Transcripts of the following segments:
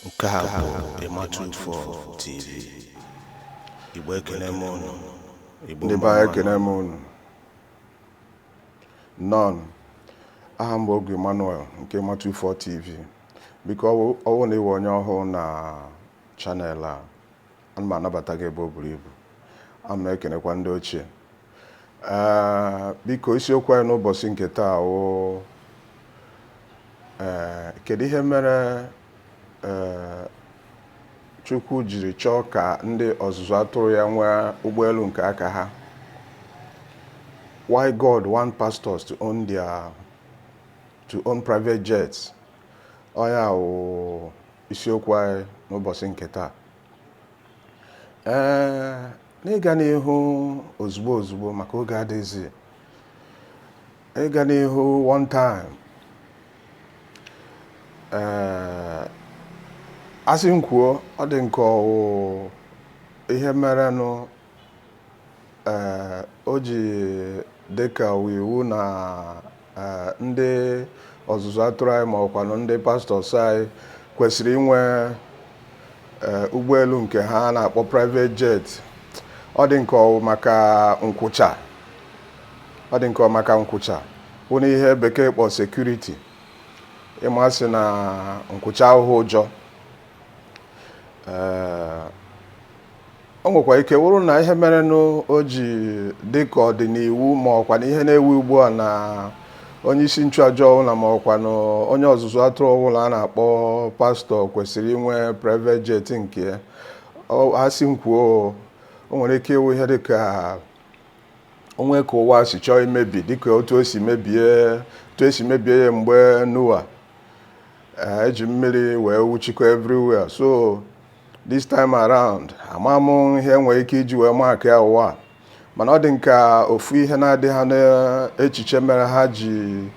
nke a bụ ịmatụ ufọ tv igbo ekene m unu igbo ndị be anyị ekene m unu nnọọ aha m bụ oge emmanuel nke matu 4 tv biko ọ wụ na ị wụ onye ọhụụ na channel a ana m anabata gị ebe o buru ibu ana m ekenekwa ndị ochie ee biko isiokwu anyị n'ụbọchị nke taa wụ ee kedu ihe mere ee chukwu jiri chọọ ka ndị ọzụzụ atụrụ ya nwee ụgbọelu nke aka ha why god want pastors to own their to own private jets ọ ya wụ isiokwu anyị n'ụbọchị nke taa ee n'ịga n'ihu ozugbo ozugbo maka oge adịghịzi ịga n'ihu one time ee a sị m kwuo ọ dị m ka ọ wụ ihe merenụ Ee, o ji dị ka ọ wụ iwu na ee, ndị ọzụzụ atụrụ anyị ma ọkwanụ ndị pastors anyị kwesịrị inwe ee, ụgbọelu nke ha a na-akpọ private jet ọ dị m ka ọ wụ maka nkwụcha ọ dị m ka ọ wụ maka nkwụcha wụnụ ihe bekee kpọ security ị ma sị na nkwụcha awụhụ ụjọ Ee, o nwekwa ike wụrụ na ihe merenụ o ji dị ka ọ dị n'iwu ma ọkwanụ ihe na-ewu ugbu a na onye isi nchụaja ọbụla ma ọkwanụ onye ọzụzụ atụrụ ọbụla a na-akpọ pastor kwesịrị inwe private jet nke ya. Ọ- a sị m kwuo o nwere ike ịwụ ihe dị ka o nwe ka ụwa si chọọ imebi dịka otu o si mebie otu e si mebie ya mgbe noah Eh, e ji mmiri wee wuchikọ everywhere so this time around ama m ihe nwere ike iji wee mekaa ya ụwa mana ọ dị m ka ofu ihe na-adị ha n'echiche mere ha ji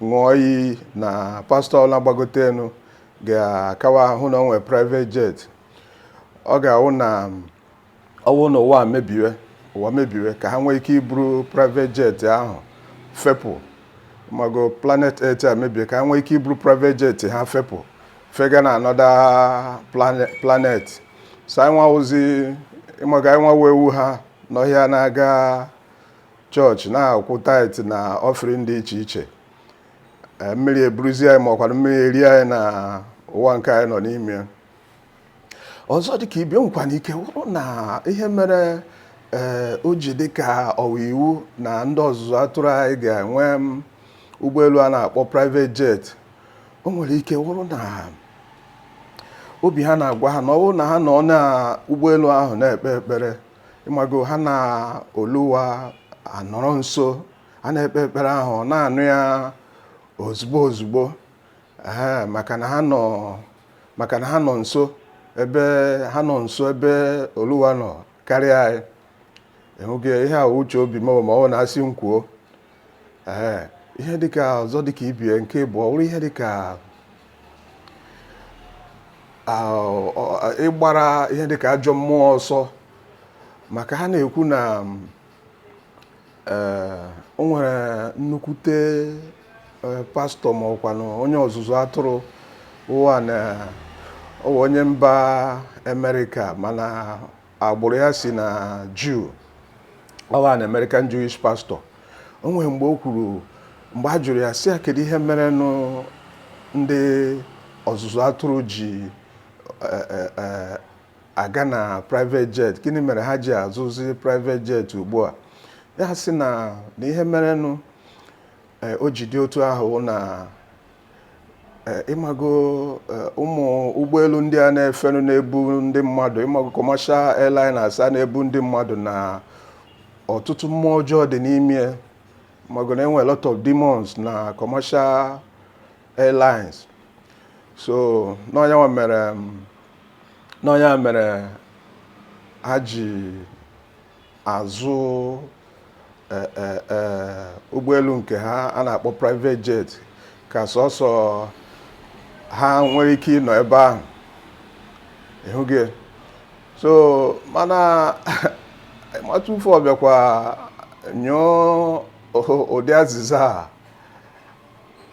ṅụọ iyi na pastor ọwụla gbagote elu ga-akawa ahụ na o nwee private jet ọ ga-awụ na ọ wụ na ụwa mebiwe ụwa mebiwe ka ha nwee ike iburu private jet ahụ fepụ mago planet earth a mebie ka ha nwee ike iburu private jet ha fepụ fega na another plane- planet so anyịnwa wụzi ị mago anyịnwa wụ ewu ha n'ọhịa na-aga church na-akwụ tithe na offering dị iche iche Eh, mmiri eburuzie anyị ma ọkwanụ mmiri erie anyị na ụwa nke anyị nọ n'ime ya ọzọ dị ka ibe o nwekwanụ ike wụrụ na ihe mere ee eh, o ji dị ka ọ wụ iwu na ndị ọzụzụ atụrụ anyị ga-enwe mm, ụgbọelu a na-akpọ private jet o nwere ike wụrụ na obi ha na-agwa ha na ọ bụrụ na ha nọ na ụgbọelu ahụ na-ekpe ekpere ịmago ha na oluwa anọrọ nso ha na-ekpe ekpere ahụ na-anụ ya ozugbo ozugbo Ee, maka na ha nọ maka na ha nọ nso ebe ha nọ nso ebe oluwa nọ karịa anyị ị hụgo ihe a uche obi m ma ọ na-asị m kwuo ee ihe dịka ọzọ dịka ibe ya nke bụ ọ bụrụ ihe dịka ịgbara ihe dịka ajọ mmụọ ọsọ maka ha na-ekwu na ee o nwere nnukwute ee, pastọ ma ọkwanụ onye ọzụzụ atụrụ ọ wụ an ọ wụ onye mba Amerịka mana agbụrụ ya si na Jew ọ wụ an American Jewish pastor o nwere mgbe o kwuru mgbe a jụrụ ya sị ya kedu ihe merenụ ndị ọzụzụ atụrụ ji e, e, e, aga na private jet gịnị mere ha ji azụzi private jet ugbu a ya sị na na ihe merenụ eh, o ji dị otu ahụ na eh, ịmago eh, ụmụ ụgbọelu ndị a na-efenụ na-ebu ndị mmadụ ịmago commercial airliners a na-ebu ndị mmadụ na ọtụtụ mmụọ ọjọọ dị n'ime ya mago na e nwe a lot of demons na commercial airlines so n'ọ nya nwa mere n'ọ nya mere ha ji azụ e, e, e, ụgbọelu nke ha a na-akpọ private jet ka sọsọ ha nwere ike ịnọ ebe ahụ ị hụgo so mana matụfọ bịakwa nyụọ ụdị azịza a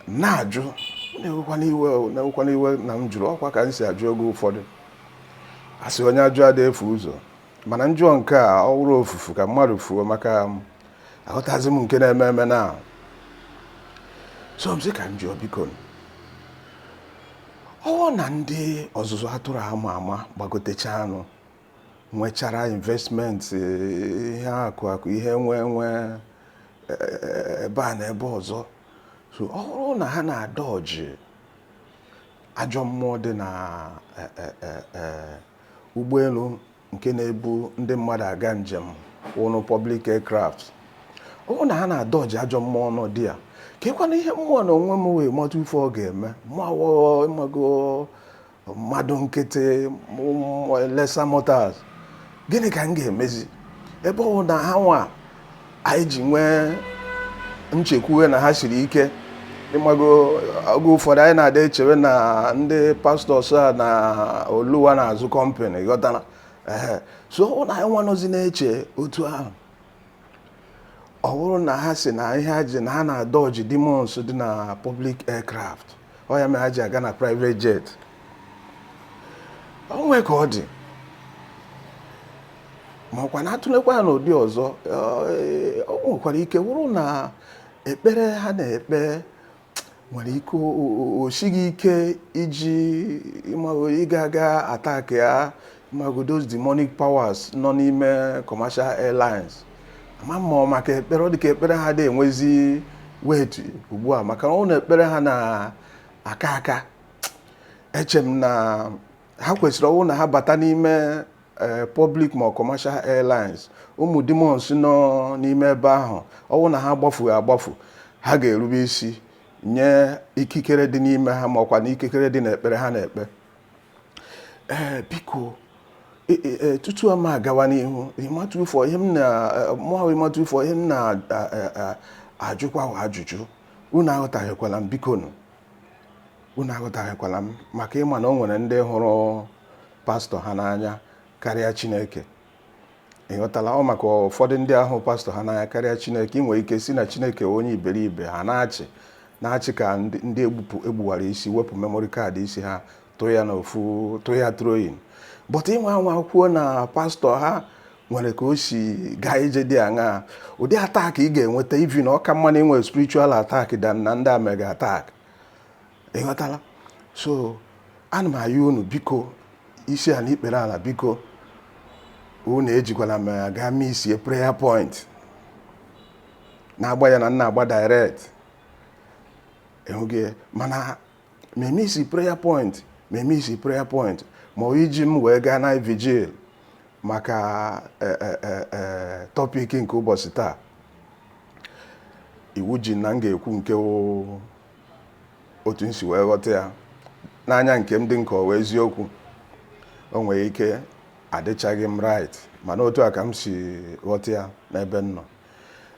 na-ajụ unu ewekwana iwe unu ewekwana iwe na m jụrụ ọkwa ka m si ajụ oge ụfọdụ a sị onye ajụ ada efu ụzọ mana m jụọ nke a ọ wụrụ ofufu ka mmadụ fuo maka aghọtazị m nke na-eme eme na so m sị ka m jụọ biko ọ wụ na ndị ọzụzụ atụrụ ama ama gbagotechaanụ nwechara investment eh, ihe akụ akụ ihe enwe enwe eh, ebe a na ebe ọzọ so ọ bụrụ na ha na-adodge ajọ mmụọ dị na eh, eh, eh, eh, ụgbọelu nke na-ebu ndị mmadụ aga njem wụnụ public aircraft ọ bụrụ na ha na-adodge ajọ mmụọ nọ dị ya keekwana ihe mụa na onwe m wee mata ife ọ ga-eme mụwa ịmago mmadụ nkịtị lesser mortals gịnị ka m ga-emezi ebe ọ wụ na ha nwa anyị ji nwee nchekwuwe na ha siri ike ị mago oge ụfọdụ anyị na-ada echewe na ndị pastors a na oluwa na-azụ company ghọtara so ọ wụrụ na anyị nwa nọzi na-eche otu ahụ ọ wụrụ na ha sị na ihe ha ji na ha na-adọji demons dị na public aircraft ọ ya mere ha ji aga na private jet o nwee ka ọ dị ma ọkwa na a tụlekwa ya n'ụdị ọzọ eh, o nwekwara ike wụrụ na ekpere ha na-ekpe nwere ike o- o- o- o sighi ike iji ịma- ịga aga attack ya mago those demonic powers nọ n'ime commercial airlines ama ma maka ekpere ọ dị ka ekpere ha adị enwezi weight ugbu a maka ọ wụ na ekpere ha na-aka aka eche m na ha kwesịrị ọ wụ na ha bata n'ime eh, public ma commercial airlines ụmụ demons nọ n'ime ebe ahụ ọ wụ na ha gbafughị agbafu ha ga-erube isi nye ikikere dị n'ime ha ma ọkwa na ikikere dị n'ekpere ha na-ekpe ee eh, biko eh, eh, tutu a ma agawa n'ihu ịmatụ ifo ihe m na mụahụ ịmatụ ifo ihe m na-ajụkwa wụ ajụjụ unu aghọtahiekwala m bikonụ unu aghọtahiekwala m maka ị ma na o nwere ndị hụrụ pastor ha n'anya karịa Chineke ị ghọtala ọ maka ụfọdụ ndị a hụ pastor ha n'anya karịa chineke i nwere ike sị na chineke onye iberibe ha na-achị na-achị ka ndị ndị egbupụ egbuwara isi wepụ memory card isi ha tụọ ya n'ofu tụọ ya throw-in but ị nwaa anwa kwuo na pastor ha nwere ka o si gaa ije dị aṅaa ụdị attack ị ga-enweta ivi na ọ ka mma na i nwee spiritual attack than na ndị a mee gị attack ị ghọtala so ana m ayọ unu biko isi ala ikpere ala biko unu ejikwala m gaa mee isi prayer point na-agba ya na nna agba direct enweghị mana mee m isi prayer point mee m isi prayer point ma ọ iji m wee gaa na vigil maka eh, eh, eh, eh, topic nke ụbọchị taa iwu ji na m ga-ekwu nke wụ otu m si wee ghọta ya n'anya nke m dị nke wụ eziokwu o nwere ike adịchaghị m right mana otu a ka m si ghọta ya n'ebe m nọ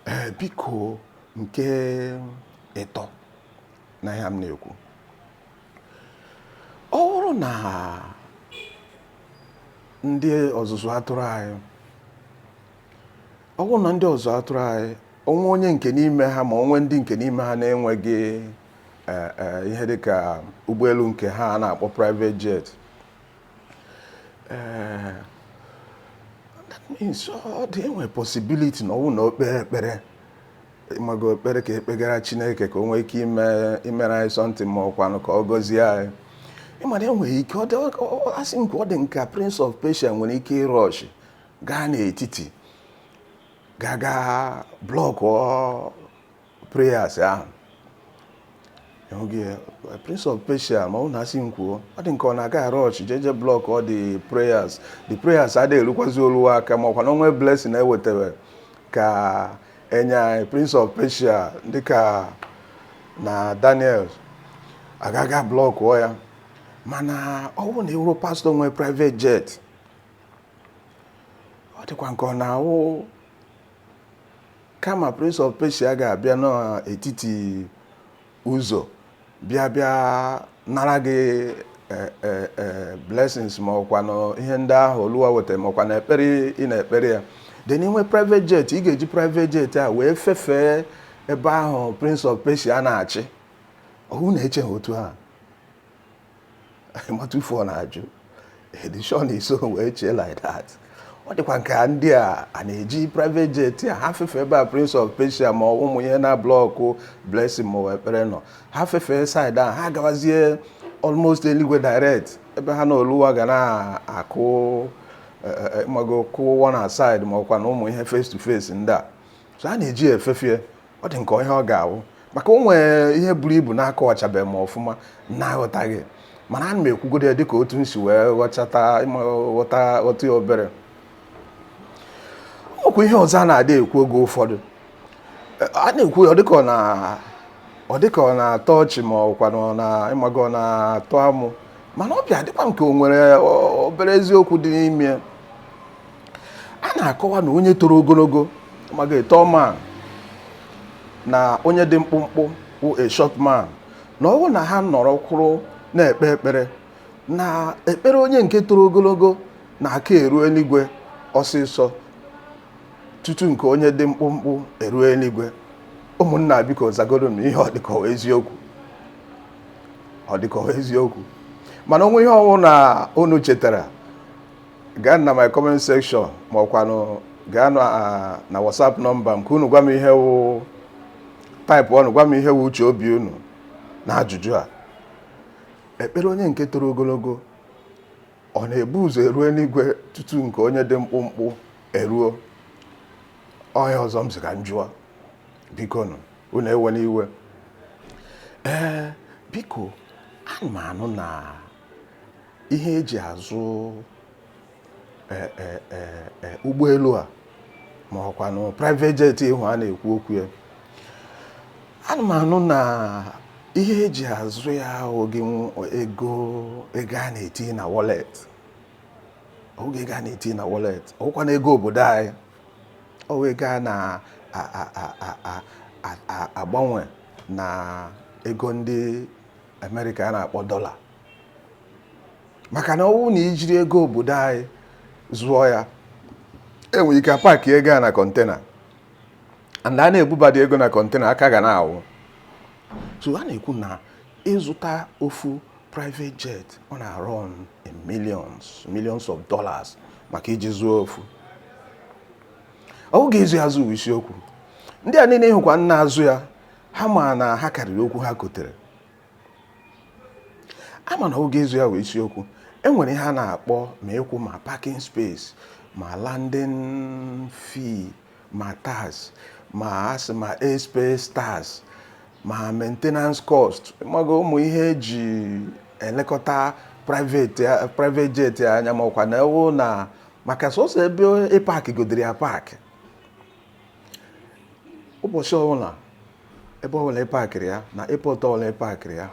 ee biko nke ịtọ na ihe m na-ekwu ọ wụrụ na ndị ọzụzụ atụrụ anyị ọ bụrụ na ndị ọzụ atụrụ anyị o nwee onye nke n'ime ha ma o nwee ndị nke n'ime ha na-enweghị e, e, ihe dị ka ụgbọelu nke ha a na-akpọ private jet e, that means ọ dị enwe possibility na ọ wụrụ na o kpere ekpere ịmago ekpere ka e kpegara Chineke ka o nwee ike imere anyị something ma ọkwanụ ka ọ gọzie anyị ị ma na e nwere ike asị nke ọ dị nka prince of Persia nwere ike ịrush gaa n'etiti gaga blockuo prayers ahụ prince of persia ma ọ na-asị m kwuo ọ dị nke ọ na-aga arush jeje blockuo the prayers the prayers adịghị erukwazi oluwa aka ma ọkwanụ o nwee blessing e wetara ka e nye anyị prince of persia dịka na daniel aga ga blockuo ya mana ọ bụrụ na ị wụrụ pastor nwee private jet ọ dịkwa nke ọ na-awụ kama prince of persia ga-abịa n'etiti ụzọ bịa bịa nara gị e, e, e, blessings ma ọkwanụ ihe ndị ahụ oluwa weta ma ọkwanụ ekpere ị na-ekpere ya then i nwee private jet ị ga-eji private jet a wee fefee ebe ahụ prince of persia na-achị ọ wụ na-eche ha otu ahụ ịmatụ ife ọ na-ajụ edishọn i so wee chee like that ọ dịkwa nke ndị a a na-eji private jet a ha fefe ebe a prince of persia ma ụmụ ihe na-ablock blessing ma ekpere nọ ha fefe side ahụ ha gawazie almost eluigwe direct ebe ha na oluwa ga na-akụ e, e, e, ịmago kụwa na side ma ọkwanụ ụmụ ihe face to face ndị a so a na-eji efefie ọ dị nke ihe ọ ga-awụ maka o nwere ihe buru ibu na-akọwachabeghị m ọfụma na-aghọtaghị mana ana m ekwugodo ya dịka otu m si wee ghọchata ịma ghọta ghọta ya obere ọkwa ihe ọzọ a na-adị ekwu oge ụfọdụ a na-ekwu ya ọ dịka ọ na ọ dịka ọ na-atọ ọchị ma ọkwanụ ọ na ịmago ọ na-atọ amụ mana ọ bịa dịkwa nke o nwere ọ- obere eziokwu dị n'ime ya a na-akọwa na onye toro ogologo mago a tall man na onye dị mkpụmkpụ wụ a short man na ọ wụrụ na ha nọrọ kwụrụ na-ekpe ekpere na ekpere onye nke toro ogologo na-aka eru eluigwe ọsịsọ tutu nke onye dị mkpụmkpụ eruo eluigwe ụmụnna biko zagodo m ihe ọ dị ka ọ wụ eziokwu ọ dị ka ọ wụ eziokwu mana o nwere ihe ọ wụ na unu chetara gaa na my comment section ma ọkwanụ gaa na ah, na whatsapp nọmba m ka unu gwa m ihe wụ taịpụọnụ gwa m ihe wụ uche obi unu na ajụjụ a ekpere onye nke toro ogologo ọ na-ebu ụzọ eruo n'igwe tutu nke onye dị mkpụmkpụ eruo onye ọzọ m sị ka m jụọ bikonụ unu ewena iwe ee biko ana m anụ na ihe eji azụ e, e, e, ụgbọelu a ma ọkwanụ private jet ahụ a na-ekwu okwu ya ana m anụ na ihe eji azụ ya ọwụghị ego ego a na-eti na wallet ọwụghị ego a na-eti na wallet ọwụkwanụ ego obodo anyị ọwụ ego a na-agbanwe na ego ndị Amerịka a na-akpọ dọla maka na ọwụ na ijiri ego obodo anyị zụọ ya enwere ike paakị ego a na kọntena and a na-ebubadị ego na kọntena aka ga na-awụ so a na-ekwu na ịzụta ofu private jet ọ na-arun in millions millions of dollars maka iji zụọ ofu ọwụghị ịzụ ya azụ wụ isiokwu ndị a niile ị hụkwa na-azụ ya ha ma na ha karịrị okwu ha kotere a ma na ọwụghị ịzụ ya wụ isiokwu e nwere ihe a na-akpọ ma ịkwụ ma parking space ma landing fee ma tax ma asị ma airspace tax ma maintenance cost mago ụmụ ihe eji elekọta private private jet anya ma ọkwa na ewu na maka sọsọ ebe ị paakịgodịrị ya paakị ụbọchị ọbụla ebe ọbụla ị pakịrị ya na airport ọbụla ị pakịrị ya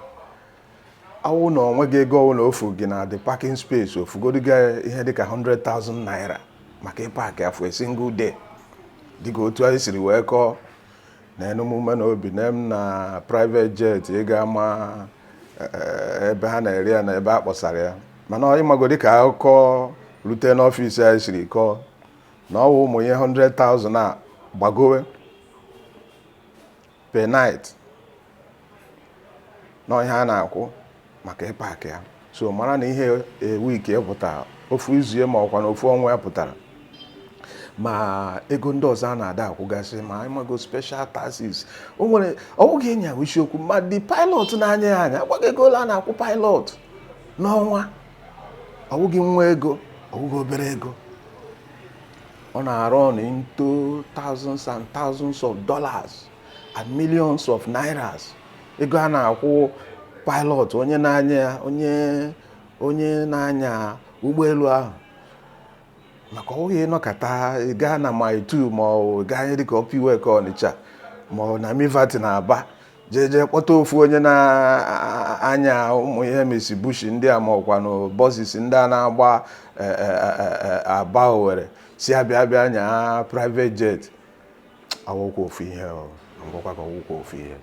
ọwụ na onweghị ego ọbụla o fu gị na the parking space o fugodu gị ihe dịka 100,000 naira maka ịpakị ya for a single day dịka otu anyị siri wee kọọ na emume na obi na m na private jet ị ga-ama ebe ha na-ere ya na ebe a kpọsara ya mana ịmago dịka akụkọ rute n'ọfịs anyị siri kọọ na ọwụ ụmụ ihe 100,000 a gbagowe per night na ọ ihe a na-akwụ maka ịpakị ya so mara na ihe a week pụtara ofu izu ma ọkwanụ ofu ọnwa ya pụtara ma ego ndị ọzọ a na-ada akwụgasị ma ịmago special taxes o nwere ọwụghị ịnya ya wụ isiokwu ma the pilot na-anya ya anya a gwa gị ego ole a na-akwụ pilot n'ọnwa ọ wụghị nwa ego ọ wụghị obere ego ọ na-arun into thousands and thousands of dollars and millions of nairas ego a na-akwụ pilot onye na-anya ya onye onye na-anya ụgbọelu ahụ maka ọ wụghị ịnọkata gaa na mile two ma ọ gaa ihe dịka upper iweka ọnịcha ma ọ na milverton na aba jee jee kpọta ofu onye na-anya ụmụ ihe mitsubishi ndị a ma ọkwanụ buses ndị a na-agba e, e, e, aba owere sị ya bịa bịa nya private jet awụkwa ofu ihe m gwakwa gị ọ wụkwa ofu ihe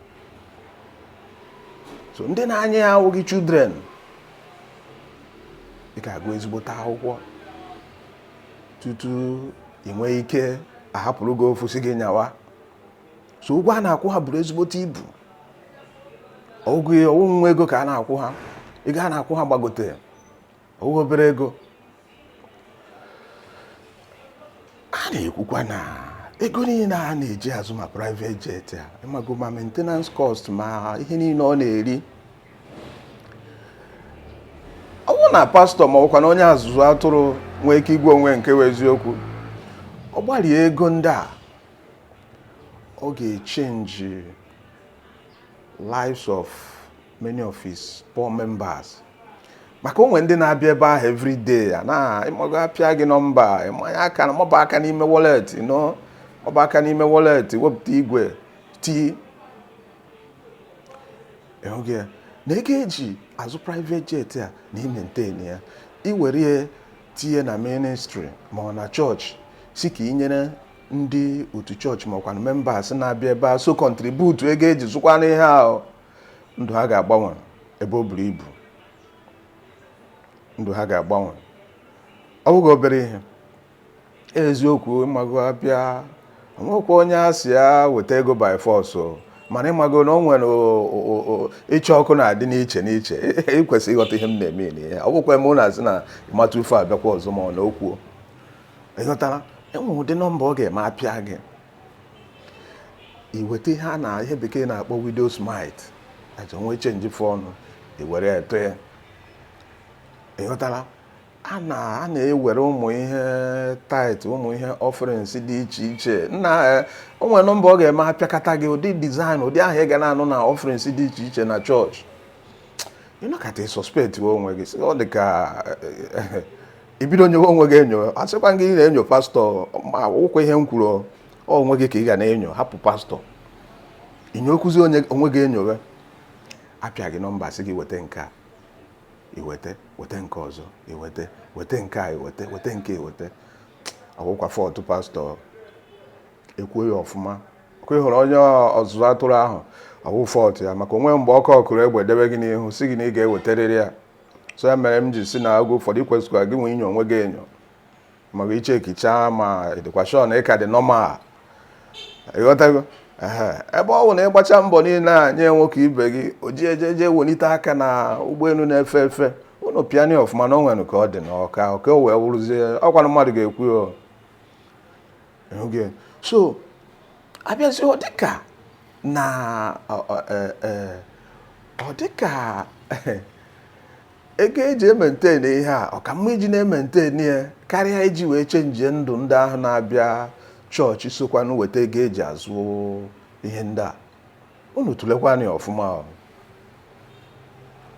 so ndị na-anya ya awụghị children ị ga-agụ ezigbote akwụkwọ tutu ị nwee ike a hapụrụ gị ofu sị gị nyawa so ụgwọ a na-akwụ ha buru ezigbote ibu ọ wụghị nwa ego ka a na-akwụ ha ego a na-akwụ ha gbagote ọ bụghị obere ego a na-ekwukwa na ego niile a na-eji azụ ma private jet a ịmago ma maintenance cost ma ihe niile ọ na-eri ọ bụrụ na pastor ma ọkwa na onye ọzụzụ atụrụ nwee ike ịgwa onwe nke ya eziokwu ọ gbarie ego ndị a ọ ga-echange lives of many of his poor members maka o nwe ndị na-abịa ebe ahụ every day ya na ịmago a pịa gị nọmba ịmanye aka na maba aka n'ime wallet you know maba aka n'ime wallet wepụta igwe tii ịhụghị ya na ego e ji azụ private jet a na ịmaintain ya i were ya tinye na ministry ma ọ na chọọchị sị ka i nyere ndị otu chọọchị ma ọkwanụ members na-abịa ebe a so contribute ego e ji zụkwanụ ihe ahụ ndụ ha ga-agbanwe ebe o buru ibu ndụ ha ga-agbanwe ọ bụghị obere ihe eziokwu ịmago a bịa o nwekwa onye a sị ya weta ego by force o mana ịmago na o nwere o- o- o- ịchọ ọkụ na-adị n'iche n'iche ị kwesịrị ịghọta ihe m na-amean ihe ọ bụkwa eme ụlọ a sị na ịmata ufe abịakwa ọzọ ma ọ na okwuo ịghọtara e nwe ụdị nọmba ọ ga-eme a pịa gị i weta ihe a na ihe bekee na-akpọ widow's mite e nwee change fọọnụ i were tụọ ya ịghọtara a na-ewere ụmụ ihe tithe ụmụ ihe offerings dị iche iche nna eh, o nwere nọmba ọ ga-eme a pịakata gị ụdị design ụdị aha ị ga na-anụ na offerings dị iche iche na chọọchị ị nọkata suspect onwe gị ọ dị ka eh, eh, ibido nyowe onwe gị enyo asịkwa gị na-enyo pastọ makwa ihe m kwuru onwe gị ka ị ga na-enyo hapụ pastọ i nyokwuzi onwe gị enyo apịa gị nọmba sị gị weta nke a iweta weta nke ọzọ iweta weta nke a iweta weta nke iweta ọ wụkwa fault pastọ ekwuo ya ọfụma ọkwa ịhụrụ onye ọzụzụ atụrụ ahụ ọ wụ fault ya maka o nwe mgbe ọkụ ọkụrụ egbe debe gị n'ihu si gị na ị ga-ewetarịrị ya so ya mere m ji si na oge ụfọdụ ikwesịkwara gị nwee inyo onwe gị enyo ma gị chekichaa ma ịdịkwa shọ na ịka dị nọmal ịghọtago ehe ebe ọ bụ na ịgbacha mbọ niile a nye nwoke ibe gị o ji eje eje welite aka na ụgbọelu na-efe efe unu piani ọfụma na o nwere ka ọ dị na ọka ọka o wee wụrụzie ọkwanụ mmadụ ga-ekwu ya o. so abịazi ọ dịka na ọ- ọ- eh, eh, ọ dịka ego eji ementenị ihe a ọ ka mma iji na-ementenị ya karịa iji wee chenjie ndụ ndị ahụ na-abịa chọọchị sokwanụ weta ego eji azụ ihe ndị a unu tụlekwanụ ya ọfụma ọ.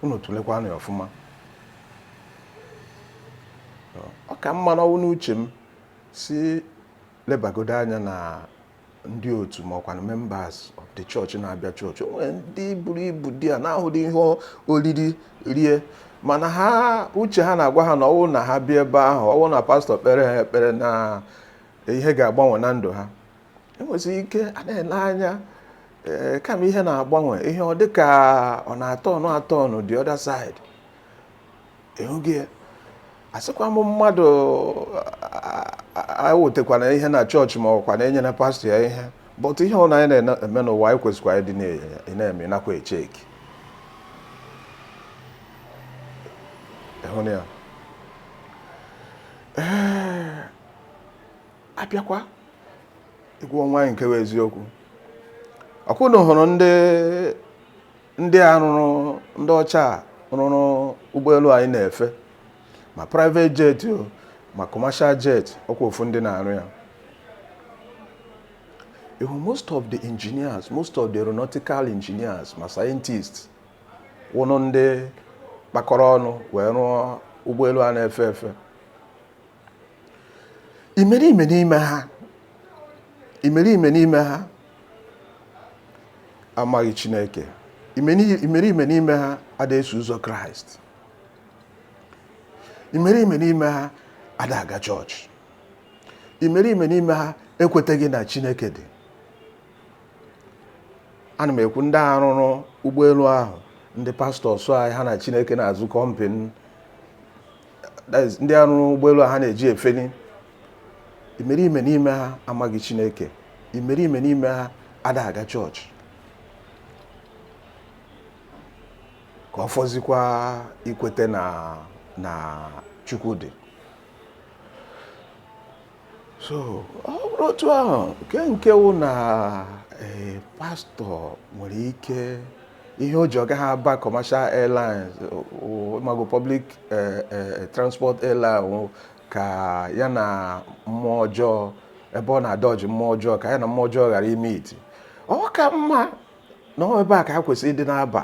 unu tụlekwanụ ya ọfụma ọ ka mma n'ọwụ n'uche m si lebagodo anya na ndị otu ma ọkwanụ members of the church na-abịa chọọchị o nwere ndị buru ibu dị a na-ahụdị ihe oriri rie mana ha uche ha na-agwa ha na ọwụrụ na ha bịa ebe ahụ ọwụ na pastọ kpeere ha ekpere na ihe ga-agbanwe na ndụ ha enwezi ike a na-ele anya eh, kama ihe na-agbanwe ihe ọ dịka ọ na-atọnụ atọnụ the other side ịhụgo ya asịkwa m mmadụ ewetakwana ihe na chọọchị ma ọkwanụ nyere pastọ ya ihe but ihe ọ na anyị na-eme n'ụwa anyị kwesịkwa ịdị na-eme nakwa echeki ịhụrụ ya ee abịakwa ịgwa onwe anyị nke bụ eziokwu ọkwa unu hụrụ ndị ndị a rụrụ ndị ọcha rụrụ ụgbọelu anyị na-efe ma private jet o ma commercial jet ọkwa ofu ndị na-arụ ya ị hụ most of the engineers most of the aeronautical engineers ma scientists wụrụ ndị kpakọrọ ọnụ wee rụọ ụgbọelu a na-efe efe imerime n'ime ha imerime n'ime ha amaghị Chineke imerime n'ime ha ada eso ụzọ Kraịst imerime n'ime ha ada aga chọọchị imerime n'ime ha ekwetaghị na Chineke dị ana m ekwu ndị arụrụ ụgbọelu ahụ ndị pastọ sị anyị ha na Chineke na-azụ kọmpin ndị a rụrụ ụgbọelu ha na-eji efeli imerime n'ime ha amaghị chineke imerime n'ime ha ada aga chọọchị ka ọ fọzikwa ikweta na chukwu dị so ọ bụrụ otu ahụ nke nke wụ na eh, pastọ nwere ike ihe o ji ọ gaghị aba commercial airlines ịmago public eh, eh, transport airline wụ ka ya na mmụọ ọjọọ ebe ọ na-adodge mmụọ ọjọọ ka ya na mmụọ ọjọọ ghara imeet ọ ka mma na ọ ebe a ka ha kwesịrị ịdị na-aba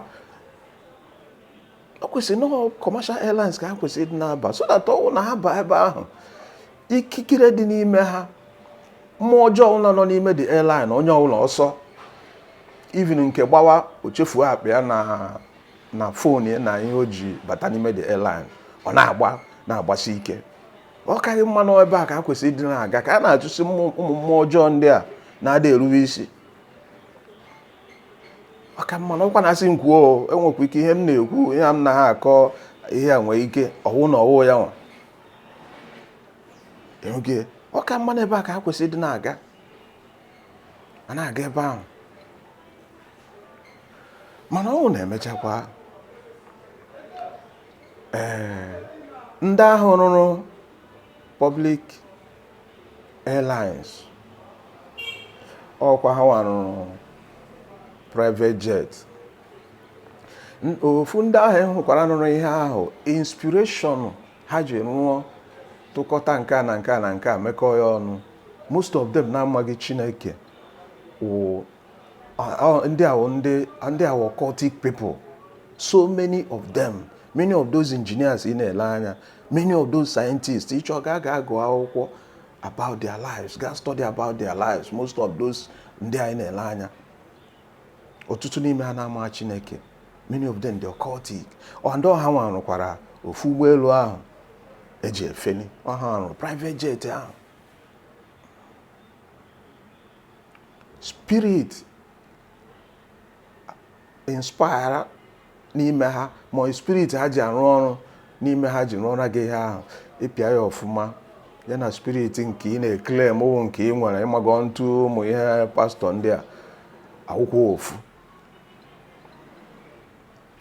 o kwesịrị na commercial airlines ka ha kwesịrị ịdị na-aba so that ọ wụ na ha baa ebe ahụ ikikere dị n'ime ha mmụọ ọjọọ ọbụla nọ n'ime the airline onye ọbụla ọsọ even nke gbawa o chefuo akpa ya na fon ya na ihe o ji bata n'ime the airline ọ na-agba na-agbasi ike ọ kaghị mma na ebe a ka ha kwesịrị ịdị na-aga ka a na-achụsị ụmụ mmụọ ọjọọ ndị a na-ada erube isi ọ ka mma na ọkwa na-asị m kwuo o nwekwa ike ihe m na-ekwu ihe m na ha akọ ihe a nwee ike ọwụ na ọwụ ya nwa oge ọ ka mma na ebe a ka ha kwesịrị ịdị na-aga a na-aga ebe ahụ mana ọwụ na e mechakwa ee ndị ahụ rụrụ public airlines ọkwa ha nwa rụrụ private jet ofu ndị ahụ hụkwara nụrụ ihe ahụ inspiration ha ji rụọ tụkọta nke a na nke a na nke a mekọọ ya ọnụ most of them na-amaghị chineke wụ ndị a wụ ndị a wụ occultic people so many of them many of those engineers ị na-ele anya many of those scientists ị chọọ ga ga agụ akwụkwọ about their lives ga study about their lives most of those ndị anyị na-ele anya ọtụtụ n'ime ha na-amaghị chineke many of them dị occultic ọ ndị ọ ha nwa rụkwara ofu ụgbọelu ahụ e ji efeli ọ ha nwa rụrụ private jet ahụ spirit inspire n'ime ha ma spirit ha ji arụ ọrụ n'ime ha ji rụọra gị ihe ahụ ịpịa ya ọfụma ya na spirit nke ị na-eclaim ọ wụ nke i nwere ịmago ntụ ụmụ ihe pastọ ndị a awụkwa ofu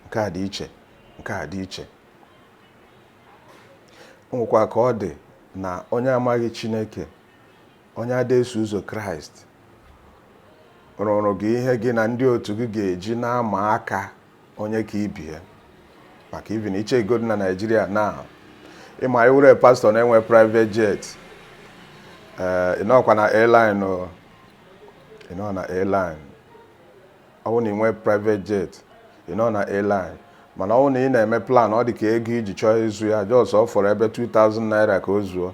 nke a dị iche nke a dị iche o nwekwa ka ọ dị na onye amaghị chineke onye ada-eso ụzọ kraịst rụrụ gị ihe gị na ndị otu gị ga-eji na-ama aka onye ka ibie maka even iche ego dị na naijiria na ịma iwere pastọ na-enwe private jet ee eh, ịnọkwa na airline o ịnọ na airline ọ bụrụ na ị nwee private jet ịnọ na airline mana ọ bụrụ na ị na-eme plan ọ dị ka ego iji chọọ ịzụ ya just ọ fọrọ ebe 2000 naira ka o zuo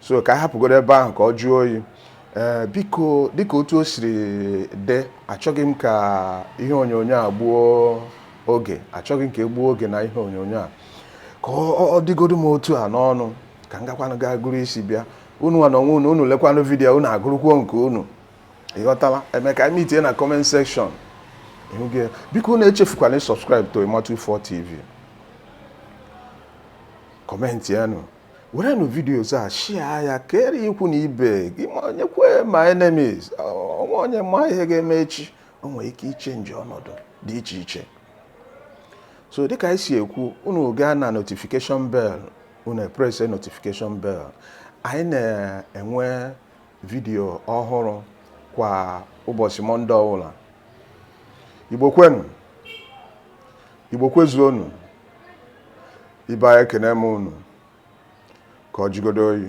so ka a hapụgodo ebe ahụ ka ọ jụọ oyi ee biko dịka otu o siri dị achọghị m ka ihe onyonyo a gbuo oge achọghị m ka e gbuo oge na ihe onyonyo a ka ọ dịgodu m otu a n'ọnụ ka m gakwanụ gaa gụrụ isi bịa unu nwa na onwe unu unu lekwanụ vidiyo unu agụrụkwuo nke unu ịghọtala emeka anyị mitie na comment section biko unu echefukwala subscribe to Imatu 4 TV commentịa nụ werenụ videos a share ya kere ikwu na ibe gị ma nyekwa ma enemies o nwee onye ma ihe ga-eme echi o nwere ike ichenji ọnọdụ dị iche iche so dịka anyị si ekwu unu gaa na notification bell unu eprese notification bell anyị na-enwe vidiyo ọhụrụ kwa ụbọchị mọnde ọbụla igbo kwenu igbo kwezuonu ibe anyị ekene m unu ka ọ jigodo oyi